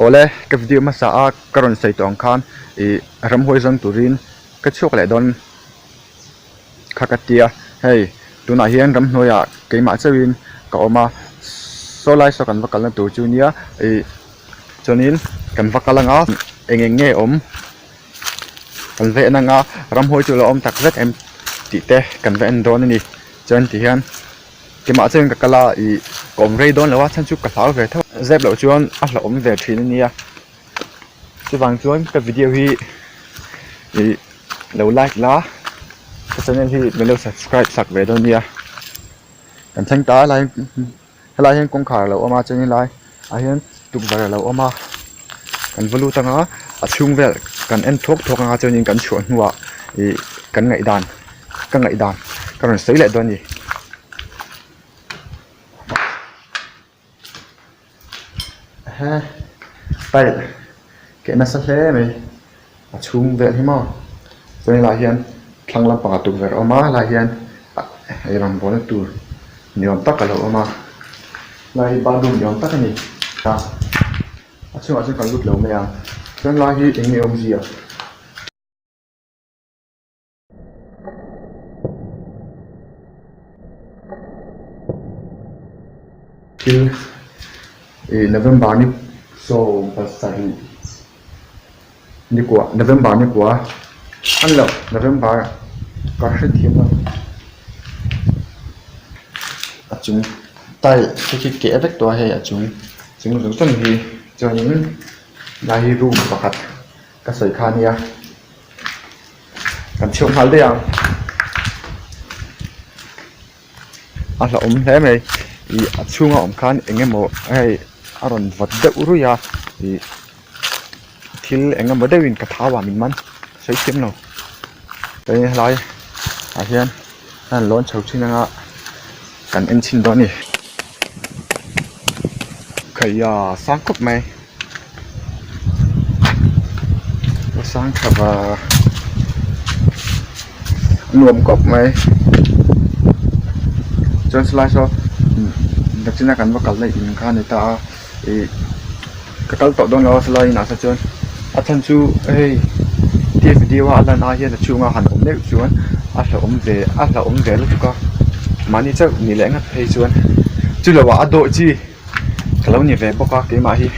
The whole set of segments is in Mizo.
Awle ka video hmasa a ka rawn sawi tawh ang khan ih ramhuai zawng turin ka chhuak leh dawn kha ka tia hei tunah hian ramhnuaiah keimah chauhin ka awm a saw lai saw kan va kalna tur chu nia ih chuanin kan va kal anga eng eng nge awm. kan veh nanga ramhawi chu a lo awm tak zet em tih te kan va en dawn a ni chuan ti hian kemah chuan in ka kal a ih ka awm rei dawn lo a chhan chu ka hlau ve theuh zep loh chuan a hlauhawm ve thin a nia chuvang chuan ka video hi ih lo like la ka channel hi lo subscribe chak ve dawn a nia kan thleng ta lai-- helai hian kawngkhar alo awm a chuan in laiah hian tukverh alo awm a kan va lut anga a chhung vel kan en thawk thawk anga chuan in kan chhuah hnuah ih kan ngaihdan ka ngaihdan ka rawn sawi leh dawn ani. a chhung vel hi maw chuan helai ah hian thlang lampang a tukverh a awm a helai ah hian ah ih rawngbawlna tur ni awm tak alo awm a helai hi bathroom ni awm tak a ni a a chhungah sawn kan lut lo mai ang chuan helai hi eng nge awmzia-- Thil ih November ni sorry pasarih ni kua November ni kua an loh November ka hre thiam lo a chung tile te khi keh vek tawh a hei a chung chung zawk zawk hi chuan in lai hi room pakhat. Ka sawi kha nia. Kan chheu nghal daih ang. A hla awm hle mai. Ih a chhunga awm khan eng emaw hei a rawn vat deuh ruih a. Ih thil eng emaw deuh in ka thau a min man sawi thiam lo. Hei a hlai ah hian a rawn lawn chho thin anga kan en chhin dawn a ni. Khaia sang khawp mai. Ka sangthava nuam kawp mai chuan chulai saw nachina kan va kal daih in kha a ni ta a ih ka kal tawh dawn lo a chulai inah se chuan a chhan chu hei T F D a lan ai hian a chhunga han awm deuh chuan a hlauhawm ve a hlauhawm ve lutuk a mahni chauh nih leh ngat phei chuan chu lo ah a dawih chi. ka lo ni ve bawk a keimah hi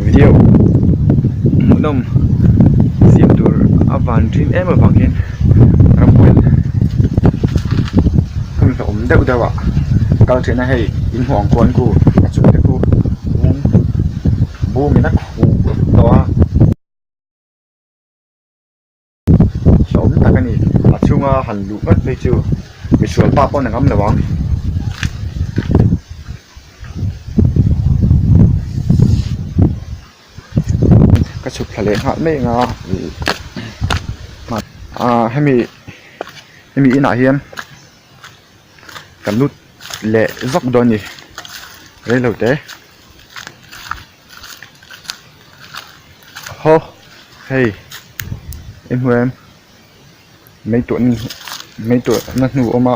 video hmuhnawm siam tur a van ṭhîn êm avang hian ramhuan hmun hlauh awm deuh deuhah kal ṭhîna hei in huang kual ku a chung te chu bûm bûm ina khuh loh a. hlawm tak a ni a chhunga han luh vat phei chu mihrual pa pawn a ngam lo ang. Ka chhuk thla leh nghal mai anga aaa hemi hemi inah hian ka lut leh vak dawn a ni rei lo te. Haw hei i hmu em meituah na meituah na hnu awm a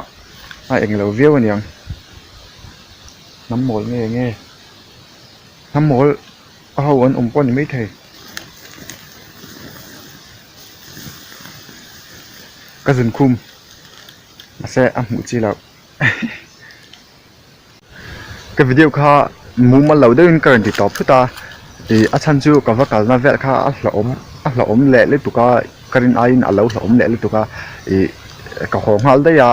a eng lo viau a ni ang hnam mawl nge nge hnam mawl a ho an awm pawh a ni maithei ka zun khum mahse a hmuh chi lo. Ka video kha mumal lo deuhin ka rawn ti tawp phut a, ih a chhan chu ka va kalna vel kha a hlauhawm a hlauhawm leh lutuk a ka rin aiin a lo hlauhawm leh lutuk a, ih ka haw nghal daih a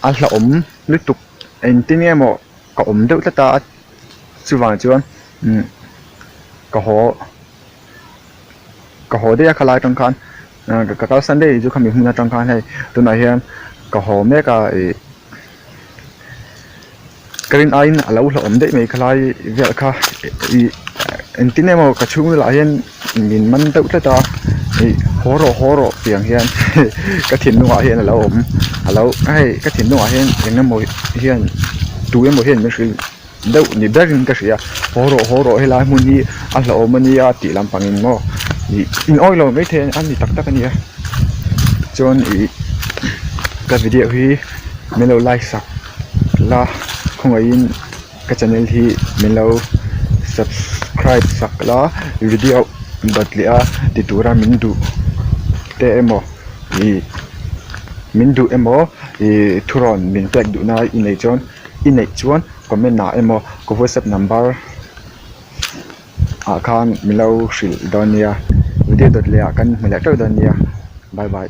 a hlauhawm lutuk engtin nge maw ka awm deuh tlat a chuvang chuan ka haw ka haw daih a khalaia tang khan. ka kal san daih chu khami hmun atang khan hei tunah hian ka haw mek a ih ka rin aiin a lo hlauhawm daih mai kha lai vel kha ih engtin emaw ka chhung vel ah hian min man deuh tlat a ih haw rawh haw rawh piang hian ka thinlung ah hian a lo awm a lo hei ka thinlung ah hian engemaw hian tu emaw hian min hrilh-- deuh ni ber in ka hria haw rawh haw rawh helai hmun hi a hlauhawm ania tih lampang in maw ih inawih lo mai thei a ni tak tak ania chuan ih ka video hi min lo like sak la khawngaihin in ka channel hi min lo subscribe sak la video bat leh a ti tura min duh te emaw ih min duh emaw ih thurawn min pek duh na i nei chuan-- i neih chuan comment ah emaw ka whatsapp number ah khan min lo hrilh dawn nia video dawt leh ah kan hmu leh teuh dawn nia bye bye .